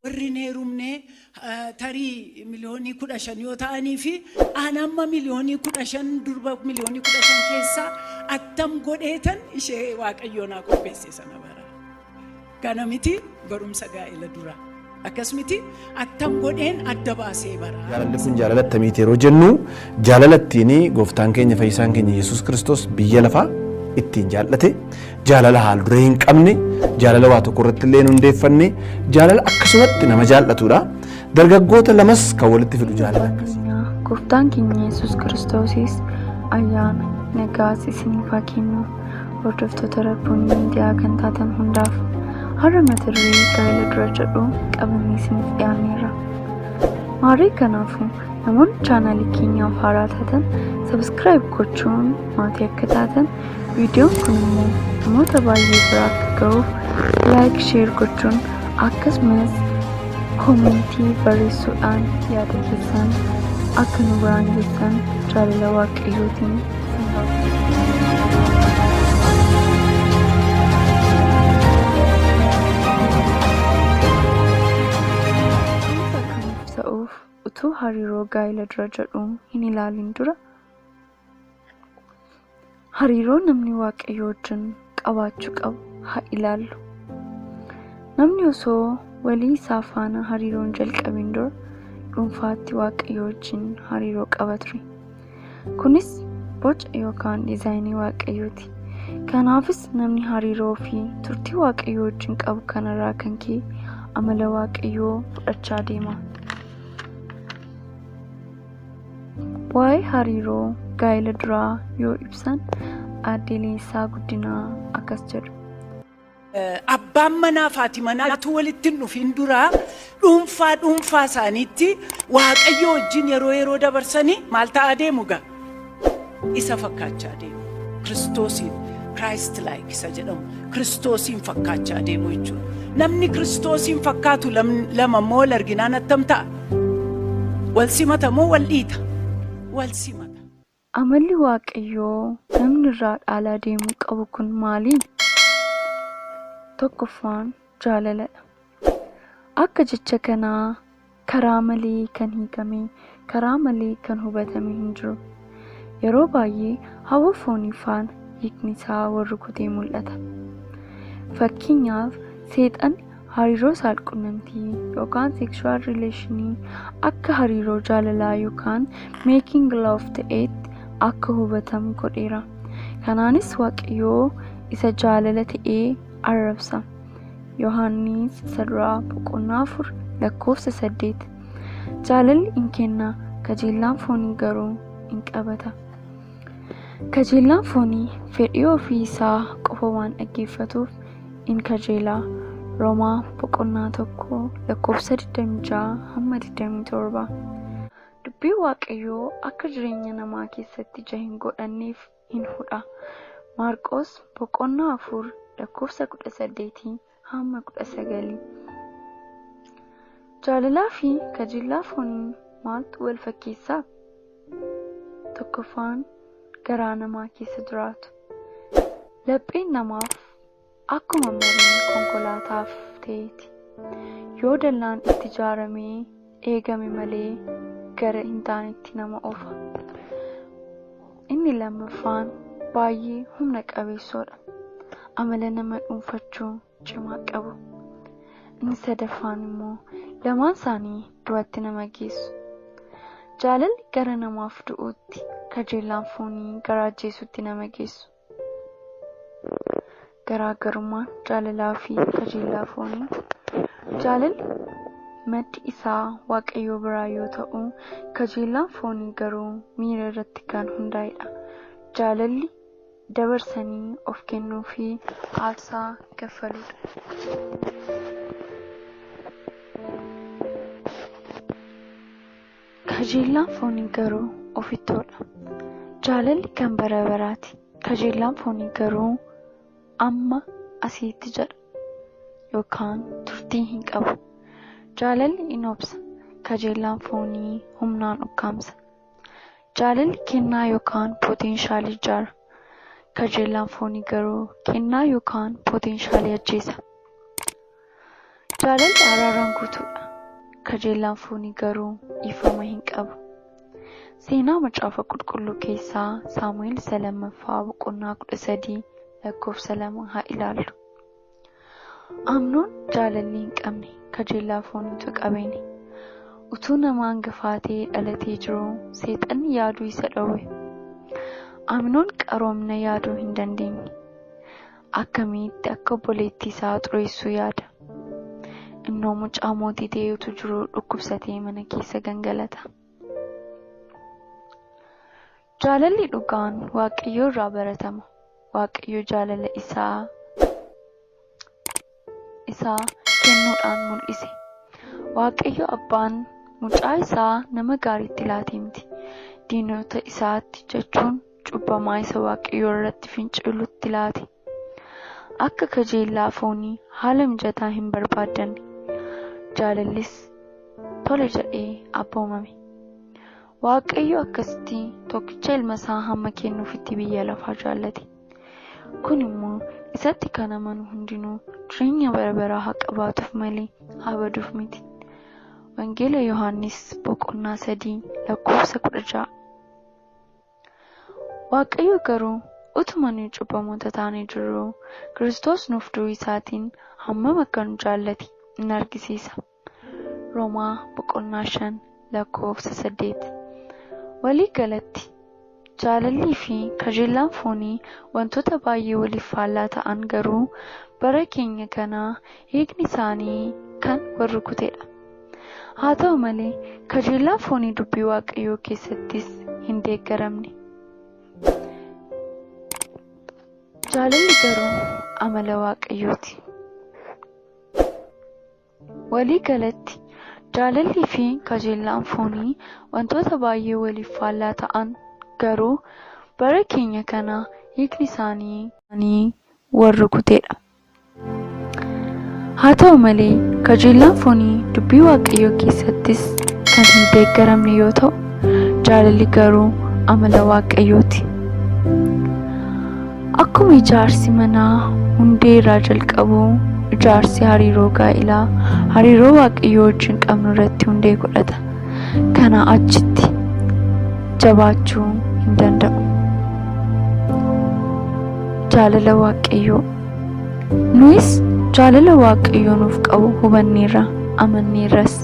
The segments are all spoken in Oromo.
warri hin heerumne eh, tarii miliyoonii kudha shan yoo ta'anii fi aan amma miliyoonii kudha shan durba miliyoonii kudha shan keessaa attam godheetan ishee waaqayyoon haa qopheesse sana bara. Kana miti barumsa gaa'ela dura. Akkas miti attam godheen adda baasee bara. Jaalalli kun jaalala attamiiti yeroo jennu jaalala ittiin gooftaan keenya fayyisaan keenya Yesuus Kiristoos biyya lafaa ittiin jaallate jaalala haal duree hin qabne jaalala waa tokko irratti illee hin hundeeffanne jaalala akkasumatti nama jaallatudha. Dargaggoota lamas kan walitti fidu jaalala akkasii. Gooftaan keenya Yesuus Kiristoosis ayyaana nagaas isiniif haa kennu. Hordoftoota Rabbuun miidiyaa kan taatan hundaaf har'a mata duree gaa'ela dura jedhu qabannee isiniif dhiyaanneerra. Maarii kanaafuu namoonni chaanaalii keenyaaf haaraa taatan sabiskiraayib gochuun maatii akka taatan viidiyoon kun immoo namoota baay'ee bira akka ga'uuf laayik sheer gochuun akkasumas koomentii barreessuudhaan yaada keessan akka nu biraan geessan jaalala waaqayyootiin Dhuunfa kan ibsa'uuf utuu hariiroo gaa'ila dura jedhu hin ilaalin dura hariiroo namni waaqayyo wajjin qabaachuu qabu haa ilaallu. Namni osoo walii isaa faana hariiroon jalqabin dura dhuunfaatti waaqayyo wajjin hariiroo qaba ture. Kunis boca yookaan diizaayinii waaqayyooti. Kanaafis namni hariiroo fi turtii waaqayyo wajjin qabu kanarraa kan ka'e amala waaqayyoo fudhachaa deema. Waa'ee hariiroo gaa'ela duraa yoo ibsan aadde Leensaa Guddinaa akkas jedhu. Abbaan manaa fi haati manaa utuu walitti hin dhufin duraa dhuunfaa dhuunfaa isaaniitti waaqayyoo wajjin yeroo yeroo dabarsanii maal ta'aa deemu gaa? isa fakkaachaa deemu. Kiristoosiin Christ like isa jedhamu Kiristoosiin fakkaachaa deemu jechuudha. Namni Kiristoosiin fakkaatu lam- lama immoo wal arginaan attam ta'a? Wal simata moo wal dhiita? Wal simata. Amalli Waaqayyoo namni irraa dhaalaa deemuu qabu kun maali? Tokkoffaan jaalaladha. Akka jecha kanaa Karaa malee kan hiikame, karaa malee kan hubatame hin jiru. Yeroo baay'ee hawwa foonii faana hiikni isaa wal rukutee mul'ata. Fakkeenyaaf, Seexanni hariiroo saalqunnamtii yookaan sexual relation akka hariiroo jaalalaa yookaan making love ta'eetti akka hubatamu godheera. Kanaanis Waaqayyoo isa jaalala ta'e arrabsa. Yohaannis Sadraa boqonnaa 4 lakkoofsa 8 Jaalalli in kenna, kajeellaan foonii garuu in qabata. Kajeellaan foonii fedhii ofii isaa qofa waan dhaggeeffatuuf in kajeela. Romaa boqonnaa 1 lakkoofsa 26 hamma 27 Dubbii Waaqayyoo akka jireenya namaa keessatti ija hin godhanneef in hudha. Maarqoos boqonnaa 4 lakkoofsa 18-19. Jaalalaa fi kajeellaa fooniin maaltu wal fakkeessaa? Tokkoffaan garaa namaa keessa jiraatu. Lapheen namaaf Akkuma marii konkolaataaf ta'eeti. Yoo dallaan itti jaaramee eegame malee gara hin taanetti nama ofa. Inni lammaffaan baay'ee humna qabeessoodha. Amala nama dhuunfachuu cimaa qabu. Inni sadaffaan immoo lamaan isaanii du'atti nama geessu. Jaalalli gara namaaf du'uutti, kajeellaan foonii gara ajjeesuutti nama geessu. Garaagarummaan jaalalaa fi kajeellaa foonii. Jaalalli maddi isaa Waaqayyoo biraa yoo ta'u, kajeellaan foonii garuu miira irratti kan hundaa'edha. Jaalalli dabarsanii of kennuu fi aarsaa kaffaluudha. Kajeellaan foonii garuu ofittoodha. Jaalalli kan bara baraati. Kajeellaan foonii garuu amma asiitti jedha yookaan turtii hin qabu. Jaalalli in obsa, kajeellaan foonii humnaan ukkaamsa. Jaalalli kennaa yookaan pootenshaalii ijaara. Kajeellaan foonii garuu kennaa yookaan pootenshaalii ajjeesa. Jaalalli araaraan guutuudha, kajeellaan foonii garuu dhiifama hin qabu. Seenaa Macaafa Qulqulluu keessaa Saamu'el isa lammaffaa boqonnaa 13 lakkoofsa 2 haa ilaallu. Amnoon jaalalli hin qabne kajeellaa fooniitu qabeene. Utuu nama hangafaa ta'ee dhalatee jiruu seexanni yaaduu isa dhowwe. Amnoon qaroomina yaaduu hin dandeenye. akkamitti akka obboleettii isaa xureessuu yaada. Innoo mucaa mootii ta'ee utuu jiruu dhukkubsatee mana keessa gangalata. Jaalalli dhugaan Waaqayyoo irraa baratama. Waaqayyo jaalala isaa isaa kennuudhaan mul'ise. Waaqayyo Abbaan mucaa isaa nama gaariitti laatee miti, diinota isaatti jechuun cubbamaa isa Waaqayyo irratti fincilutti laate. Akka kajeellaa foonii haala mijataa hin barbaaddanne, jaalallis tole jedhee abboomame. Waaqayyo akkasitti tokkicha ilma isaa hamma kennuufitti biyya lafaa jaallate. Kun immoo isatti kan amanu hundinuu jireenya bara baraa haa qabaatuuf malee haa baduuf miti. Wangeela Yohaannis boqonnaa sadii lakkoofsa kudha ja'a. Waaqayyo garuu utuma nuyi cubbamoota taanee jirruu Kiristoos nuuf du'uu isaatiin hammam akka nu jaallate in argisiisa. Romaa boqonnaa 5 lakkoofsa 8. Walii galatti, jaalallii fi kajeellaan foonii wantoota baay'ee waliif faallaa ta'an garuu bara keenya kana hiikni isaanii kan wal rukutedha. Haa ta'u malee, kajeellaan foonii dubbii Waaqayyoo keessattis hin deeggaramne. Jaalalli garuu amala Waaqayyooti. Walii galatti, jaalallii fi kajeellaan foonii wantoota baay'ee waliif faallaa ta'an garuu bara keenya kana hiikni isaanii. isaanii wal rukute dha. Haa ta'u malee, kajeellaan foonii Dubbii Waaqayyoo keessattis kan hin deeggaramne yoo ta'u, jaalalli garuu amala Waaqayyoo ti. Akkuma ijaarsi manaa hundee irraa jalqabu, ijaarsi hariiroo gaa'ilaa hariiroo Waaqayyoo wajjin qabnu irratti hundee godhata. Kanaa achitti jabaachuu hin danda'u. Jaalala Waaqayyoo. Nuyis jaalala Waaqayyoo nuuf qabu hubanneerra, amanneerras.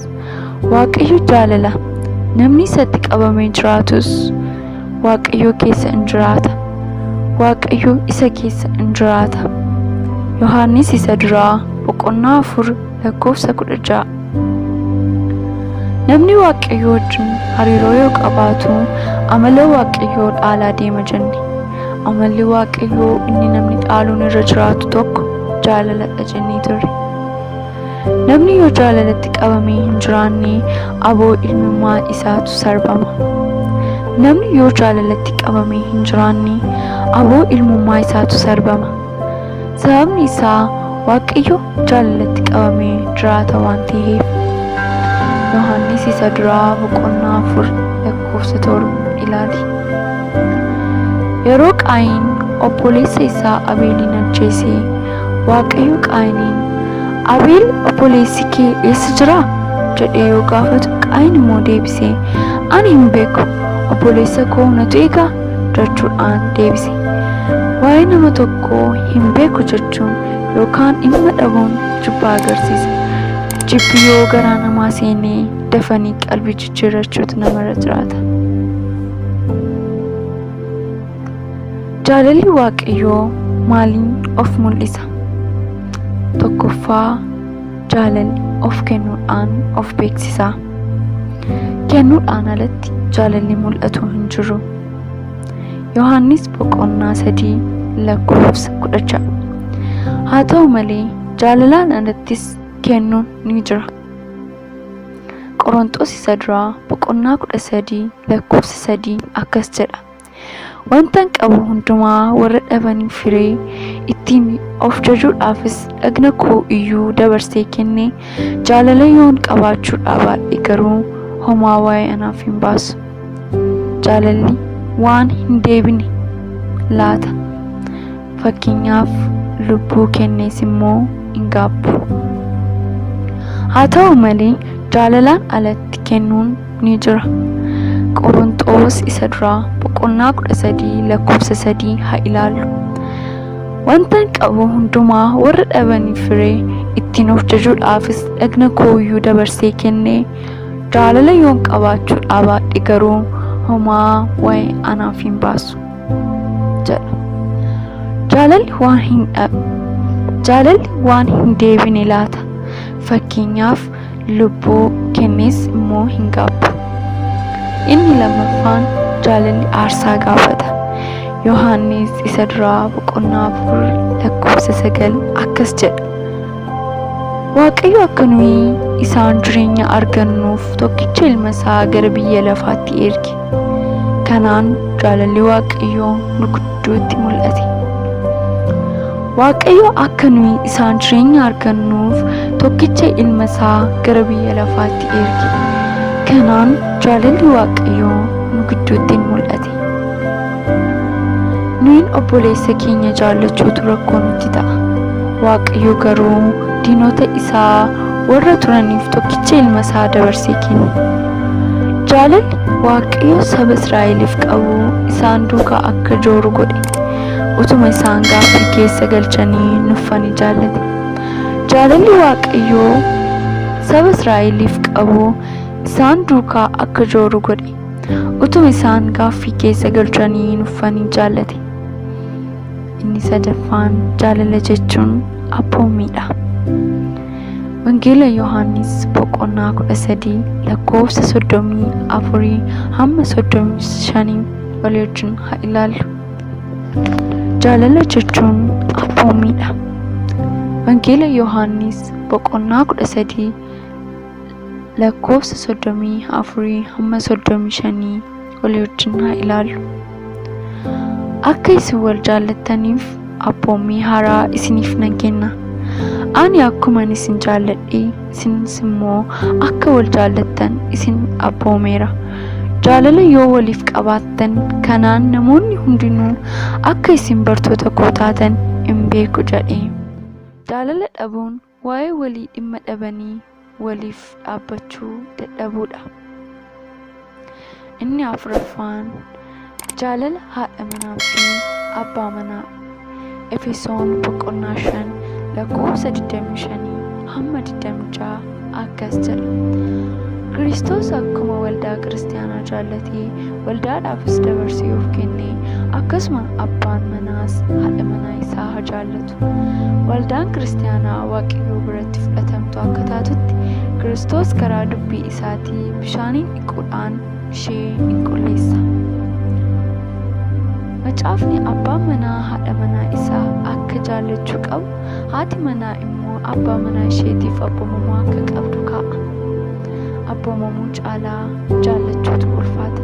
Waaqayyo jaalala. Namni isatti qabamee jiraatus Waaqayyo keessa in jiraata. Waaqayyo isa keessa in jiraata. Yohaannis isa duraa boqonnaa afur lakkoofsa kudha ja'a. Namni Waaqayyo wajjin hariiroo yoo qabaatu amala Waaqayyoo dhaalaa deema jenne. Amalli Waaqayyoo inni namni dhaaluun irra jiraatu tokko jaalaladha jennee turre. Namni yoo jaalalatti qabamee hin jiraanne aboo ilmummaa isaatu sarbama. Namni yoo jaalalatti qabamee hin jiraanne aboo ilmummaa isaatu sarbama. Sababni isaa Waaqayyo jaalalatti qabamee jiraata waan ta'eef. Yohaannis isa duraa boqonnaa afur lakkoofsa torba ilaali. Yeroo Qaayin obboleessa isaa Abeeliin ajjeese Waaqayyo Qaayiniin, Abeel obboleessi kee eessa jira? jedhee yoo gaafatu, Qaayin immoo deebisee, Ani hin beeku, obboleessa koo natu eega jechuudhaan deebise. Waa'ee nama tokkoo hin beeku jechuun yookaan dhimma dhabuun jibba agarsiisa. Jibbi yoo garaa namaa seenee dafanii qalbii jijjiirrachuutu namarra jiraata. Jaalalli Waaqayyoo maaliin of mul'isa? Tokkoffaa jaalalli of kennuudhaan of beeksisa. Kennuudhaan alatti jaalalli mul'atu hin jiru. Yohaannis boqonnaa sadii lakkoofsa kudha ja'a. Haa ta'u malee jaalalaan alattis kennuun ni jira. Qoronxoos isa duraa boqonnaa kudha sadii lakkoofsa sadii akkas jedha. Wantan qabu hundumaa warra dhabaniif hire, ittiin of jajuudhaafis dhagna koo iyyuu dabarsee kenne, jaalala yoon qabaachuu dhaabaadhe garuu homaa waa'ee anaaf hin baasu. Jaalalli waan hin deebine laata? Fakkeenyaaf lubbuu kennees immoo hin gaabbu. Haa ta'u malee jaalalaan alatti kennuun ni jira. Qoronxoos isa duraa boqonnaa 13 lakkoofsa 3 haa ilaallu. Wantan qabu hundumaa warra dhabaniif firee ittiin of jajuudhaafis dhagna kooyyuu dabarsee kenne jaalala yoon qabaachuu dhaabaadhe garuu homaa waa'ee anaaf hin baasu jedha. Jaalalli waan hin dhabe. Jaalalli waan hin deebine laata. Fakkeenyaaf lubbuu kennees immoo hin gaabbu. Inni lammaffaan jaalalli aarsaa gaafata. Yohaannis isa duraa boqonnaa afur lakkoofsa sagal akkas jedha. Waaqayyo akka nuyi isaan jireenya argannuuf tokkicha ilma isaa gara biyya lafaatti erge. Kanaan jaalalli Waaqayyoo nu gidduutti mul'ate. Waaqayyo akka nuyi isaan jireenya argannuuf tokkicha ilma isaa gara biyya lafaatti erge. Kanaan jaalalli Waaqayyoo nu gidduutti in mul'ate. Nuyin obboleessa keenya jaallachuutu rakkoo nutti ta'a. Waaqayyo garuu diinota isaa warra turaniif tokkicha ilma isaa dabarsee kenne. Jaalalli Waaqayyo saba Israa'eliif qabu isaan duukaa akka jooru godhe. Utuma isaan gaaffii keessa galchanii nuffanii jaallate. Jaalalli Waaqayyoo saba Israa'eliif qabu isaan duukaa akka jooru godhe. Utuu isaan gaaffii keessa galchanii hin uffanii jaallate. Inni sadaffaan jaalala jechuun abboomiidha. Wangeela Yohaannis boqonnaa 13 lakkoofsa 34 hamma 35 walii wajjin haa ilaallu. Jaalala jechuun abboomiidha. Wangeela Yohaannis boqonnaa 13 lakkoofsa 34-35 olii wajjin haa ilaallu. Akka isin wal jaallattaniif abboommii haaraa isiniif nan kenna. Ani akkuman isin jaalladhe isinis immoo akka wal jaallattan isin abboomeera. Jaalala yoo waliif qabaattan kanaan namoonni hundinuu akka isin bartoota koo taatan in beeku jedhe. Jaalala dhabuun Waa'ee walii dhimma dhabanii waliif dhaabbachuu dadhabuudha. Inni afuraffaan jaalala haadha manaa fi abbaa manaa. Efesoon boqonnaa 5 lakkoofsa 25 hamma 26 akkas jedha. Kiristoos akkuma waldaa kiristaanaa jaallatee waldaadhaafis dabarsee of kenne akkasuma abbaan manaas haadha manaa isaa haa jaallatu. Waldaan kiristaanaa Waaqayyoo biratti fudhatamtu akka taatutti Kiristoos karaa dubbii isaatii bishaaniin dhiquudhaan ishee in qulleessa. Macaafni abbaan manaa haadha manaa isaa akka jaallachuu qabu, haati manaa immoo abbaa manaa isheetiif abboomamaa akka qabdu kaa'a. Abboomamuu caalaa jaallachuutu ulfaata.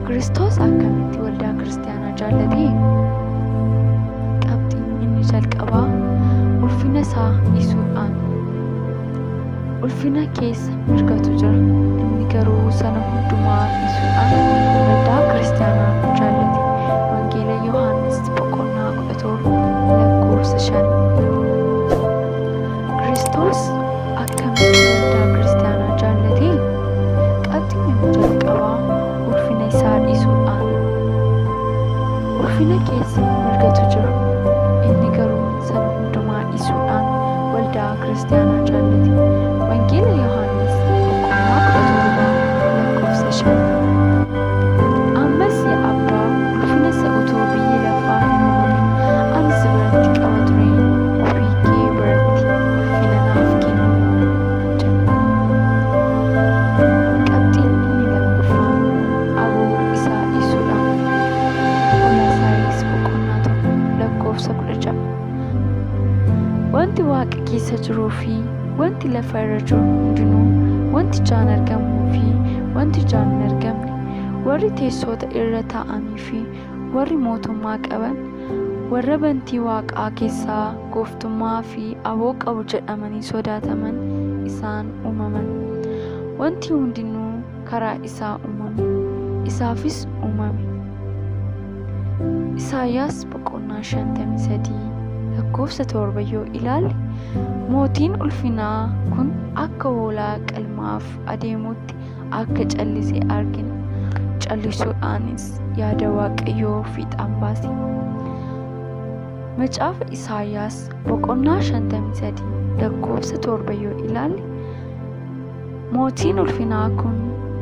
Kiristoos akkamitti waldaa kiristaanaa Yaana jaallatee qabxiin inni jalqabaa ulfina isaa dhiisuudhaan ulfina keessa mirgatu jira inni garuu sana hundumaa dhiisuudhaan waldaa kiristaanaa jaallate wangeela yohaannis boqonnaa 17 lakkoofsa 5 kiristoos akkamitti waldaa kiristaanaa jaallate qabxiin inni jalqabaa ulfina isaa dhiisuudhaan ulfina keessa mirgatu jira. Inni garuu sana hundumaa dhiisuudhaan waldaa kiristaanaa jaallate. Wangeela Yohaannis boqonnaa kudha torba lakkoofsa shan. Ammas yaa abbaa ulfina isa utuu biyyi lafaa hin uumamin ani si biratti qaba ture ofii kee biratti ulfina naaf kenni. Qabxiin inni lammaffaan aboo isaa dhiisuudha. Qolaasaayis boqonnaa tokko lakkoofsa kudha ja'a. Wanti waaqa keessa jiruu fi wanti lafa irra jiru hundinuu, wanti ijaan argamuu fi wanti ijaan hin argamne, warri teessoota irra taa'anii fi Warri mootummaa qaban warra bantii waaqaa keessaa gooftummaa fi aboo qabu jedhamanii sodaataman isaan uumaman. Wanti hundinuu karaa isaa uumame, isaafis uumame. Isaayyaas boqonnaa 53 lakkoofsa 7 yoo ilaalle mootiin ulfinaa kun akka hoolaa qalmaaf adeemutti akka callise argina. Callisuudhaanis yaada Waaqayyoo fiixaan baase. Macaafa Isaayyaas boqonnaa 53 lakkoofsa 7 yoo ilaalle mootiin ulfinaa kun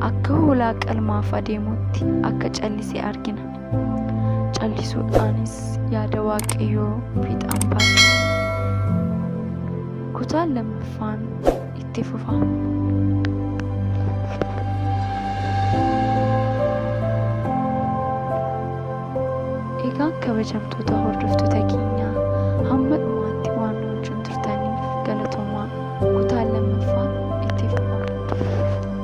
akka hoolaa qalmaaf adeemutti akka callise argina. Callisuudhaanis yaada Waaqayyoo fiixaan baase. Kutaan lammaffaan itti fufa. Egaa kabajamtoota hordoftoota keenyaa hamma dhumaatti waan nu wajjin turtaniif galatoomaa kutaan lammaffaa itti fufa.